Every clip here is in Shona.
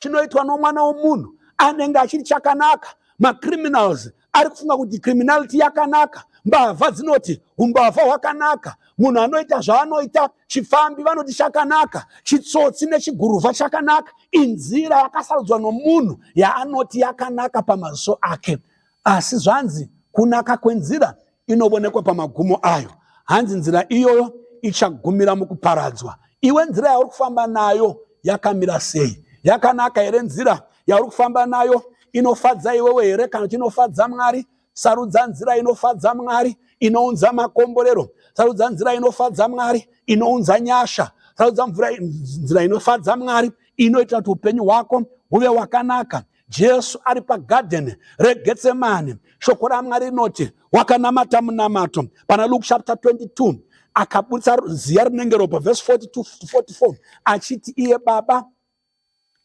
chinoitwa nomwana womunhu anenge achiri chakanaka macriminals ari kufunga kuti criminality yakanaka mbavha dzinoti umbavha hwakanaka munhu anoita zvaanoita chifambi vanoti chakanaka chitsotsi nechiguruvha chakanaka inzira yakasarudzwa nomunhu yaanoti yakanaka pamaziso ake Asi zvanzi kunaka kwenzira inobonekwa pamagumo ayo. Hanzi nzira iyoyo ichagumira mukuparadzwa. Iwe nzira yauri kufamba nayo yakamira sei? Yakanaka here nzira yauri kufamba nayo? Inofadza iwewe here kana kuti inofadza Mwari? Sarudza nzira inofadza Mwari inounza makomborero. Sarudza nzira inofadza Mwari inounza nyasha. Sarudza nzira inofadza Mwari inoita kuti upenyu hwako huve wakanaka. Jesu ari pagadheni reGetsemane, shoko raMwari rinoti wakanamata munamato pana Luke chapter 22 akaburitsa ziya rinenge ropa vhesi 42 to 44 achiti iye baba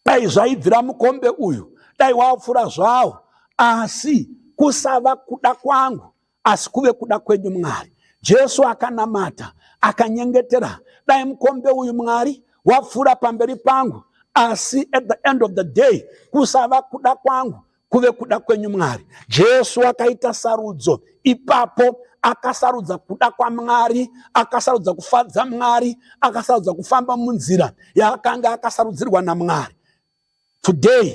dai zvaibvira mukombe uyu dai wapfura zvawo asi kusava kuda kwangu asi kuve kuda kwenyu Mwari. Jesu akanamata akanyengetera, dai mukombe uyu Mwari wapfuura pamberi pangu, asi at the end of the day kusava kuda kwangu kuve kuda kwenyu Mwari. Jesu akaita sarudzo ipapo akasarudza kuda kwamwari akasarudza kufadza mwari akasarudza kufamba munzira yaakanga akasarudzirwa namwari Today,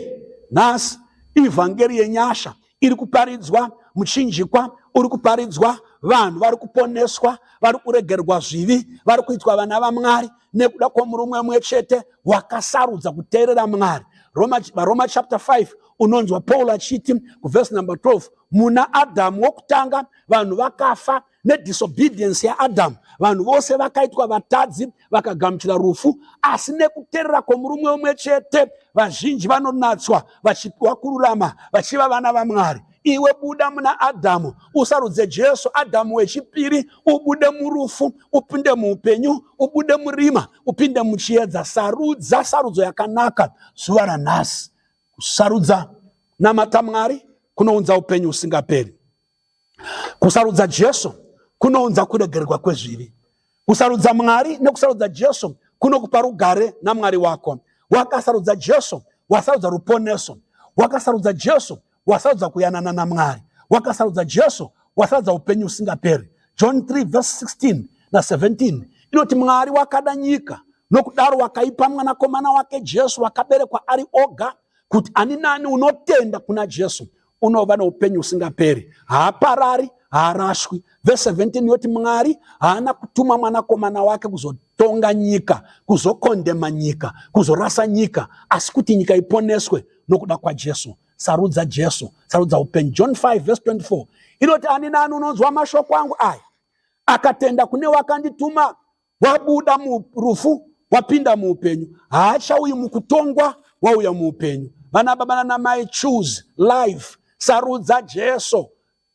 nhasi, ivhangeri yenyasha iri kuparidzwa, muchinjikwa uri kuparidzwa, vanhu vari kuponeswa, vari kuregerwa zvivi, vari kuitwa vana vaMwari nekuda kwomurume umwe chete wakasarudza kuteerera Mwari. Roma, Roma chapter 5 unonzwa Paul achiti kuvhesi number 12 muna Adhamu wokutanga vanhu vakafa nedisobedience yaadhamu vanhu vose vakaitwa vatadzi vakagamuchira rufu asi nekuterera kwomurume umwe chete vazhinji vanonatswa vachipiwa kururama vachiva vana vamwari iwe buda muna adhamu usarudze jesu adhamu wechipiri ubude murufu upinde muupenyu ubude murima upinde muchiedza sarudza sarudzo yakanaka zuva ranhasi kusarudza namata mwari kunounza upenyu usingaperi Kusarudza Jesu kunounza kuregererwa kwezvivi. Kusarudza Mwari nekusarudza Jesu kunokupa rugare naMwari wako. Wakasarudza Jesu, wasarudza ruponeso. Wakasarudza Jesu, wasarudza kuyanana naMwari. Wakasarudza Jesu, wasarudza upenyu usingaperi. John 3 verse 16 na 17 inoti Mwari wakada nyika nokudaro wakaipa mwanakomana wake Jesu wakaberekwa ari oga kuti ani nani unotenda kuna Jesu unova noupenyu husingaperi haaparari haarashwi vese 17 yoti mwari haana kutuma mwanakomana wake kuzotonga nyika kuzokondema nyika kuzorasa nyika asi kuti nyika iponeswe nokuda kwajesu sarudza jesu sarudza upenyu john 5 vese 24 inoti ani nani unonzwa mashoko angu aya akatenda kune wakandituma wabuda murufu wapinda muupenyu haachauyi mukutongwa wauya muupenyu vana baba nanamai choose life sarudza jesu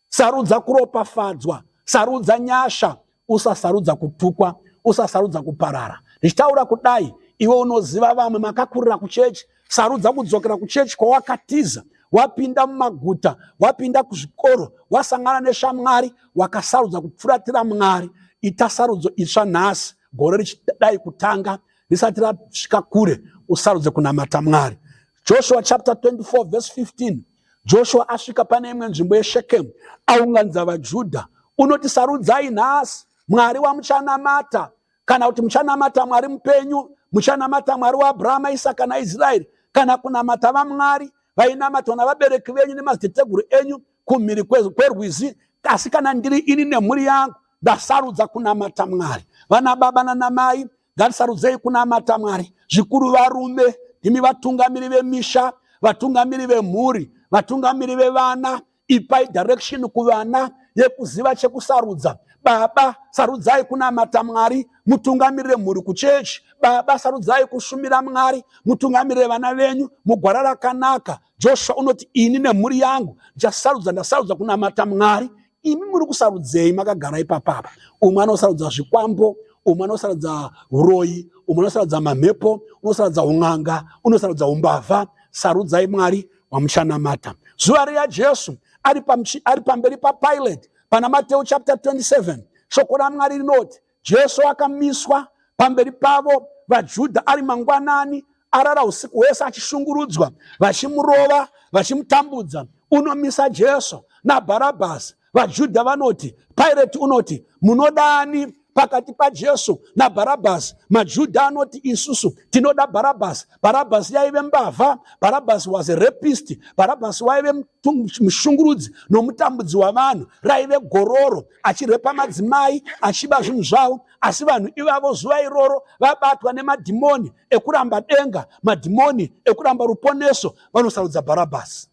sarudza kuropafadzwa sarudza nyasha usasarudza kutukwa usasarudza kuparara ndichitaura kudai iwe unoziva vamwe makakurira kuchechi Sarudza kudzokera kuchechi kwawakatiza wapinda mumaguta wapinda kuzvikoro wasangana neshamwari wakasarudza kupfuratira mwari ita sarudzo itsva nhasi gore richidai kutanga risati rasvika kure usarudze kunamata mwari joshua chapter 24 verse 15 joshua asvika pane imwe nzvimbo yeshekemu aunganidza vajudha unoti sarudzai nhasi mwari wamuchanamata kana kuti muchanamata mwari mupenyu muchanamata mwari waabrahama isaka naisraeri kana kunamata vamwari vainamatwa navabereki venyu nemadziteteguru enyu kumhiri kwerwizi asi kana ndiri ini nemhuri yangu ndasarudza kunamata mwari vana baba nanamai ngatisarudzei kunamata mwari zvikuru varume imi vatungamiri vemisha vatungamiri vemhuri vatungamiri vevana ipai direction kuvana yekuziva chekusarudza baba sarudzai kunamata mwari mutungamirire mhuri kuchechi baba sarudzai kushumira mwari mutungamirire vana venyu mugwara rakanaka joshua unoti ini nemhuri yangu ndichasarudza ndasarudza kunamata mwari imi muri kusarudzei makagara ipapapa umwe anosarudza zvikwambo umwe anosarudza uroyi umwe anosarudza mamhepo unosarudza un'anga unosarudza umbavha sarudzai mwari wamuchanamata zuva riya jesu ari, ari pamberi papilate pana mateu chapter 27 shoko ramwari rinoti jesu akamiswa pamberi pavo vajudha ari mangwanani arara usiku hwese achishungurudzwa vachimurova vachimutambudza unomisa jesu nabharabhasi VaJudha vanoti, Pirate unoti, Munodani pakati paJesu naBharabhasi? MaJudha anoti, Isusu tinoda Bharabhasi. Bharabhasi yaive mbavha. Bharabhasi was a rapist. Bharabhasi waive mushungurudzi nomutambudzi wavanhu. Raive gororo, achirepa madzimai, achiba zvinhu zvavo. Asi vanhu ivavo zuva iroro vabatwa nemadhimoni ekuramba denga, madhimoni ekuramba ruponeso, vanosarudza Bharabhasi.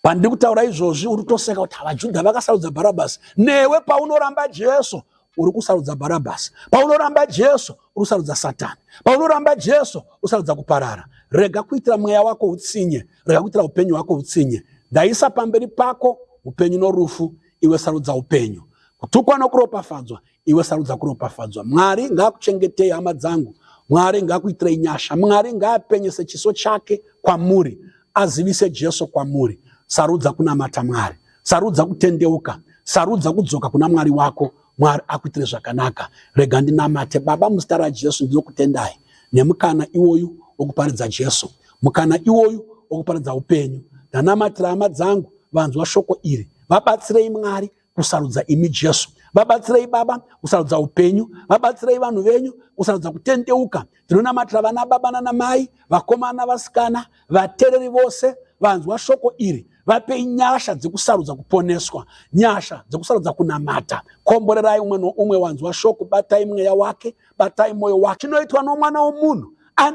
pandiri kutaura izvozvi uri kutoseka kuti vajudha vakasarudza bharabhasi newe paunoramba jesu uri kusarudza bharabhasi paunoramba jesu uri kusarudza satani paunoramba jesu usarudza kuparara rega kuitira mweya wako utsinye rega kuitira upenyu hwako utsinye ndaisa pamberi pako upenyu norufu iwe sarudza upenyu kutukwa nokuropafadzwa iwe sarudza kuropafadzwa mwari ngaakuchengetei hama dzangu mwari ngaakuitirei nyasha mwari ngaapenyese chiso chake kwamuri azivise jesu kwamuri sarudza kunamata mwari sarudza kutendeuka sarudza kudzoka kuna mwari wako mwari akuitire zvakanaka rega ndinamate baba muzita rajesu ndinokutendai nemukana iwoyu wokuparidza jesu mukana iwoyu wokuparidza upenyu ndanamatira hama dzangu vanzwa shoko iri vabatsirei mwari kusarudza imi Jesu. Vabatsirei Baba kusarudza upenyu, vabatsirei vanhu venyu kusarudza kutendeuka. Tinonamatira vana baba nana mai, vakomana, vasikana, vatereri vose vanzwa shoko iri vapei nyasha dzekusarudza kuponeswa nyasha dzekusarudza kunamata komborerai umwe noumwe wanzwa shoko batai mweya wake batai mwoyo wake chinoitwa nomwana womunhu ane